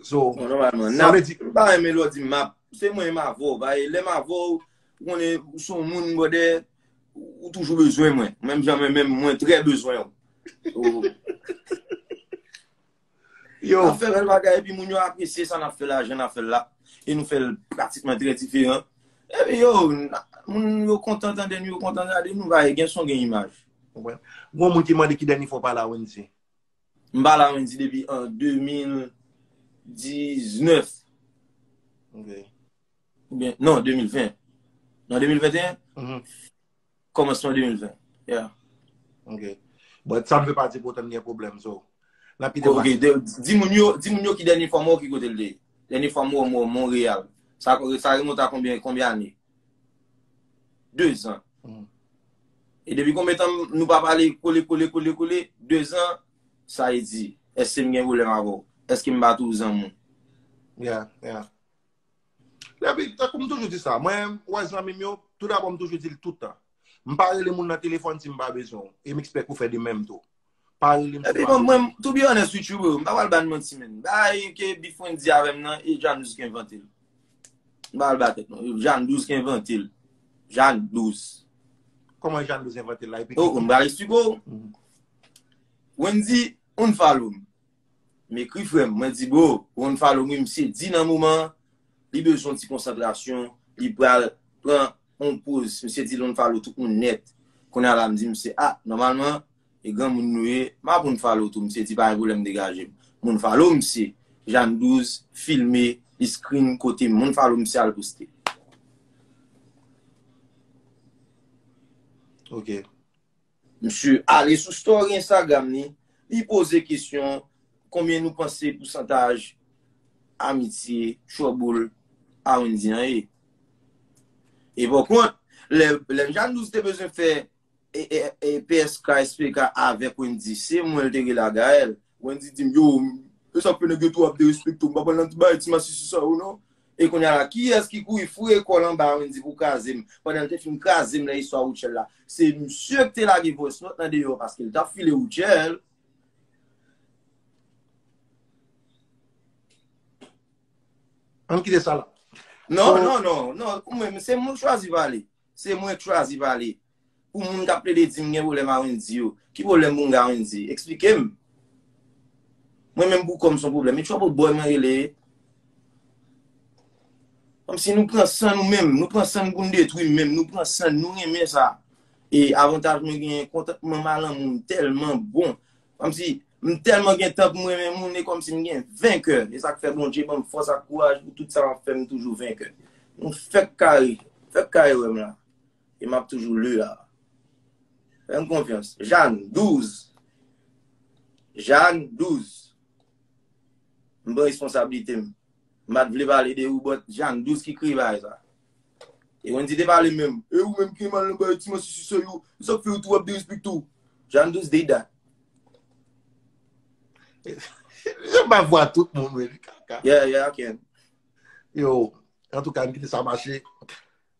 So, Bon, normalman, sa nap, vle di, ba yon melodi map, se mwen ma vò, ba e lè ma vò, ou konnen, ou son moun bode, ou toujou bezwen mwen, menm jan mwen menm, mwen trè bezwen ou. So, Yo. Nap fè bèl bagay epi moun yo apresye sa nap fè la, jan nap fèl la, e nou fèl pratikman trè diferan. Epi yo, moun yo kontan tande nou, yo kontan gade nou, paske gen son gen imaj. Wè. Gon moun ki mande ki dènye fwa w pa la Wendy? M pa la Wendy depi an 2019. Ok. Oubyen, non 2020. Nan 2021? Kòmansman 2020, yeah. Ok. But sa m fè pati pou otan m gen pwoblèm, so. Nan ki depatman? Ok, di moun yo, di moun yo ki dènye fwa m wè w ki kote l te ye. Dènye fwa m wè w mwen Montréal. Sa remonte a konbyen, konbyen ane? Dezan. E depi konbyen tan nou pa pale kole kole kole kole, dezan, sa e di, èske m gen pwoblèm avè w? Èske m bat ou zanmi? Yeah, yeah. Epi, tankou m toujou di sa, mwen menm, ou wè zanmi m yo, tou dabò m toujou di l tout tan, m pa rele moun nan telefòn si m pa bezwen w, e m ekspèk ou fè de menm tou. Pa rele m si w pa bezwen m. Epi mwen, to be honest with you bro, m pa pral ba n manti menn. Bagay ke Bif Wendy di avè m nan, e Jeanne 12 ki envante l. M pa pral ba tèt non. Jeanne 12 ki envante l. Jeanne 12. Kòman Jeanne 12 envante l la? Epi ki. Oke, m pral esplike w. Wendy unfollow m. M ekri frèm, mwen di bro, ou unfollow m misye di nan moman an li bezwen yon ti konsantrasyon li pral pran yon poz misye di l unfollow tout moun nèt kounya la m di misye ah nòmalman e granmoun nou ye m ap unfollow tou misye di pa gen pwoblèm degaje m m unfollow misye Jane 12 filme li screen kote m m unfollow misye al poste. Ok. Msye ale sou story Instagram li, li poze kesyon konbyen nou panse pousantaj amitye trouble a Wendy an ye. E pòkont, lè Mjandouz te bezwen fè psk, SPK avèk Wendy, se mwen l te rele a Gaëlle. Wendy di m, yo, esak fè nèg yo tou ap derespekte w, m pa pral nan ti bagay ti masisi sa yo non. E kounya la kiyès ki kouri foure kòl anba Wendy pou krazem pandan l te fin krazem nan istwa Rutshelle la se misye ki te lage voice note nan deyò paske l tap file Rutshelle. Ann kite sa la. Non non non non se mwen k chwazi pale se mwen k chwazi pale. Pou moun kap plede dim gen pwoblèm a Wendy yo, ki pwoblèm pou m gen a Wendy? Eksplike m? Mwen menm pou kòm son pwoblèm? E trouble boy mwen rele? Kòmsi nou pran san nou menm, nou pran san pou n detwi menm, nou pran san nou renmen sa. E avantaj mwen genyen kontantman m a lanmou m tèlman bon. Kòmsi m tèlman gen tan pou m renmen moun e kòmsi m gen venkè. E sa k fè Bondye ban m fòs ak kouraj pou tout sa m ap fè m toujou venkè. Nou fèk kare, fèk kare wè m la. E map toujou lu a. Fèm konfyans. Jane 12. Jane 12. M pran responsabilite m. M pat vle pale de ou but Jane 12 ki kreye bagay sa. E Wendy te pale menm. E ou menm ki mal nan bagay ti manti sou sèy ou. E sak fè ou tou wap derespekte ou. Jane 12 did that. Janm bay vwa tout moun men li kaka. Yeah yeah I can. Yo, antouka m kite sa mache.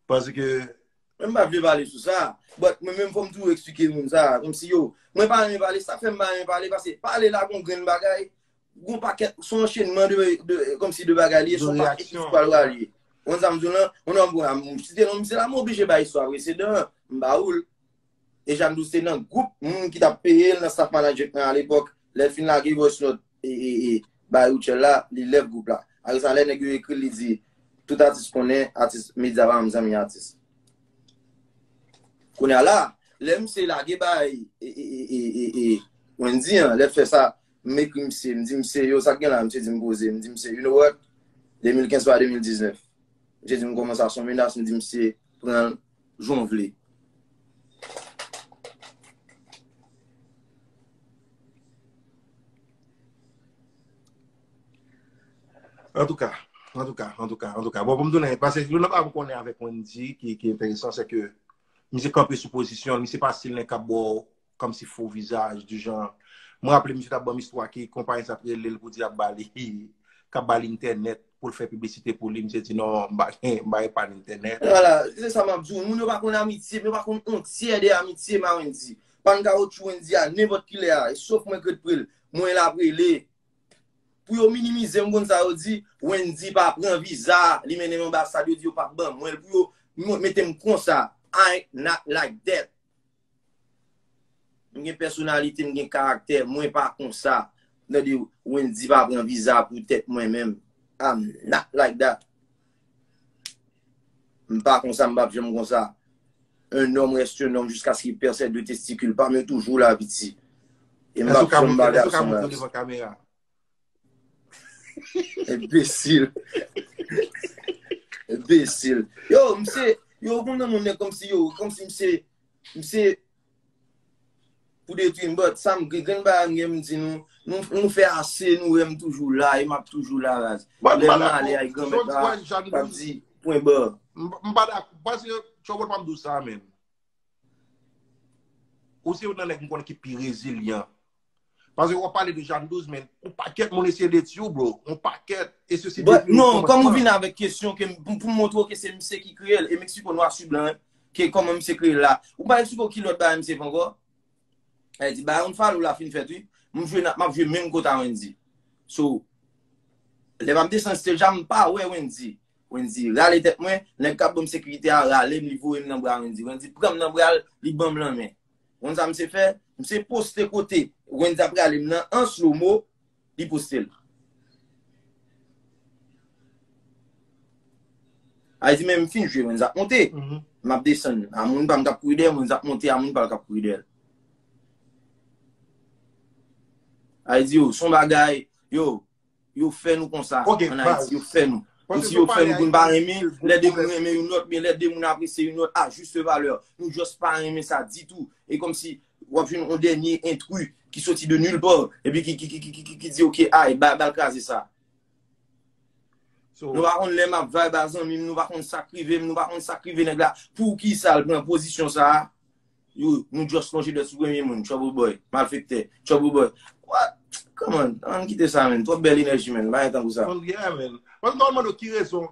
Paske Mwen pa vle pale sou sa. But mwen menm fòm toujou eksplike moun sa. Kom si yo. Mwen pa renmen pale. Sak fèm pa renmen pale. Pase pale la gon grenn bagay. Gon pakèt. Son anchenman de. Kom si de bagay li. Son pakèt ki sou pal wale. Wan sa m diw lan. Wan nan m pou la. M site nan m se la m oblije bay istwa presedan. M ba oul. E Jeanne Douce se nan group moun ki tap peyel nan staff manager nan alepok. Lèl fin lage voice note. Ba yo tchèl la li lève group la. Apre sa lè nèg yo ekril li di tout atis konnen atis media pa menm zanmi atis. Kounya la lè misye lage bay Wendy an lèl fè sa m ekri misye m di misye yo sak gen la misye di m poze m di misye you know what 2015 pa 2019 misye di m kòman sa son menas m di misye pranl jan w vle. Antouka, antouka, antouka, antouka. Bon, pou m tounen, pase yon nan pa pou konnen avèk Wendy ki enteresan, se ke misye kanpe sou pozisyon, misye pa stil nèg kap bo Kòm si fo vizaj di jan. Mwen raple misye tap banm istwa ki konpayi sa t rele l pou di ap ba li kap ba l entènèt pou l fè piblisite pou li. Misye di non m pa gen m pa epann entènèt. Wala, se sa map di w. Moun yo pa konn amitye, yo pa konn on tyè de amitye ma Wendy. Pann kawotchou Wendy a nenpòt kilè a, e sof mwen k ret pre l, mwen la pre li. Pou yo minimize m konn sa yo di, Wendy pa pran viza, li mennen m anbasad yo di yo pap ban mwen l pou yo mete m konsa. I not like that. M gen pèsonalite, m gen karaktè, mwen pa konsa. Tande w, Wendy pa pran viza pou tèt mwen menm. I'm not like that. M pa konsa, m pap janm konsa. Un homme reste un homme jusqu'à ce qu'il perd ses deux testicules pa m yo toujou la piti. E m pap janm ba gason rans. Enbesil. Enbesil. Yo, mse, yo kon nan moun kom si yo, kom si mse, mse, pou de tu mbot, sa m gen ba an gen m di nou, nou fè ase, nou wè m toujou la, e m ap toujou la raz. Mwen m bada kou, chon di wè jan nou di. Mwen m bada kou, chon di wè jan nou di. M bada kou, mwen se, chon wè jan nou di sa men. Ou se yon nan nèk m kon ki pi rezilyan. Pase wap pale de Jan 12 men, yon pakèt moun eseye detwi w bro, yon pakèt, e se si detwi w kòmansman. Non, kòm ou vin avèk kesyon ke m pou m montre w ke se misye ki kreye l, e Mexico nwa su blan, ke kòman misye kreye l la. Ou pa eksplike w ki lòt bagay misye fè ankò? Sa vle di bagay Unfollow la fin fèt wi. M jwe nan, map jwe menm kot a Wendyy. So, lè map desann stage a m pa wè Wendyy. Wendyy rale tèt mwen, nèg kap banm sekirite a rale m li voye m nan bra Wendyy. Wendyy pran m nan bra l, li banm lanmen. Ou konn sa misye fè? Misye poste kote Wendy ap rale m nan an slow mo, li poste l. Ay di men m fin jwe Wendy ap monte, m ap desann. A moun pa m k ap kouri dèyè m, Wendy ap monte a moun pa l k ap kouri dèyè l. Ay di yo, s on bagay, yo, Yo fè nou konsa an Ayiti, yo fè nou. Yo si yo fè nou pou nou pa renmen, lè de moun renmen yon lòt, lè de moun apresye yon lòt a juste valeur, nou just pa renmen sa ditou. E kòm si w ap jwenn yon dènye intrus ki soti de nulle part, epi ki di ok, ay, ba l kraze sa. Nou pa konn lè m ap vibe a zanmi m, nou pa konn sa k rive m, nou pa konn sa k rive nèg la. Poukisa l pran pozisyon sa a? Yo, nou just lonje dwèt sou premye moun, trouble boy, malfektè, trouble boy. What? Come on, ann kite sa menn, twòp bèl enèji menn, pa gen tankou sa. Bon, yeah menn. Mwen ta mande w ki rezon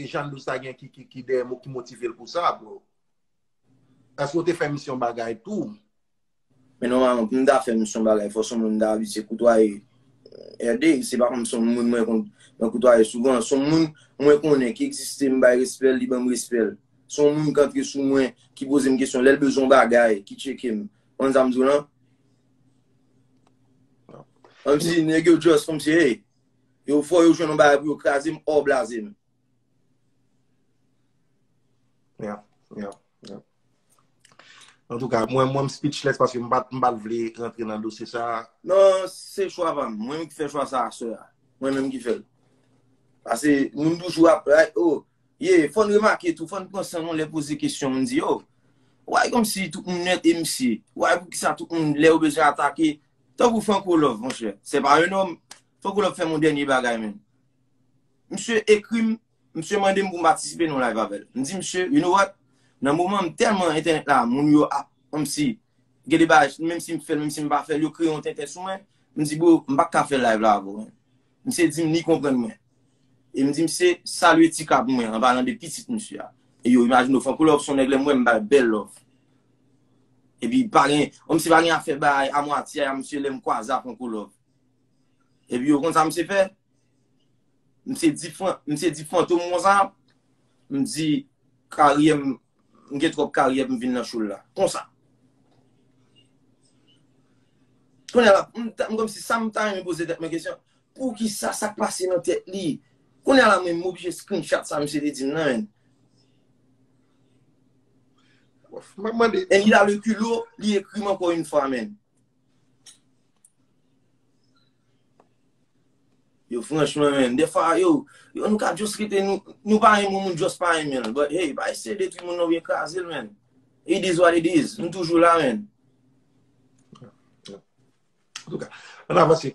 Jean Louis ta gen ki dèyè m ou ki motive l pou sa bro? Èske w te fè misyon bagay tou? Men nòmalman pou m ta fè misyon bagay fò son moun m ta abitye koutwaye èvèdèy, se pa kòm son moun mwen konn mwen koutwaye souvan, son moun mwen konnen ki egziste m bay respè l, li ban m respè l. Se yon moun k antre sou mwen, ki poze m kesyon, lè l bezwen yon bagay, ki tcheke m. Konn sa m di w lan? Kòmsi nèg yo just kòmsi hey, yo fò yo jwenn yon bagay pou yo kraze m or blaze m. Yeah, yeah, yeah. Antouka, mwen m speechless paske m pa t vle rantre nan dosye sa a. Non, se chwa pa m. Mwen menm ki fè chwa sa a, sè a. Mwen menm ki fè l. Pase moun toujou ap, oh, Ye, fòn remake tou, fòn pran san nou lè poze kesyon moun di yo. Why komsi tout moun nèt e msi? Why poukisa tout moun lè yo bezwen atake, tankou Franco Love monchè, c'est pas un homme, Franco Love fèm yon dènye bagay menn. Msye ekrim, msye mandem poum patisipe nan yon live avèl. Mdi msye, you know what, nan moman an mtèlman entènèt la moun yo ap komsi gen de bagay menmsi mfèl menmsi mpa fèl yo kreye yon tenten sou mwen, mdi bro mpaka fè live la avèw menm. Misye di m li konprann mwen. E m di misye salye Tika pou mwen an palan de pitit misye a. E yo imajine yo fè m kou love son nèg lè m wè m ba l bèl love. E pi pa gen, o misye pa gen afè bay a mwatye a misye lè m kwaze a fè m kou love. E pi yo konn sa misye fè? Misye di Misye di Fantom konsa, m di karyè m M gen twòp karyè pou m vin nan show l la. Konsa. Kounye a la, m ta, m kòmsi sa m ta renmen poze tèt mwen kesyon, poukisa, sa k pase nan tèt li? Kounye a la menm m oblije screenshot sa misye te di m nan men. Map mande. And il a le culot li ekri m ankò une fois men. Yo franchman menn, defa yo, yo nou ka just rete nou, nou pa renmen moun, moun just pa renmen l, but hey, pa eseye detwi moun nan oubyen kraze l menn. It is what it is, nou toujou la menn. An tou ka, an avanse.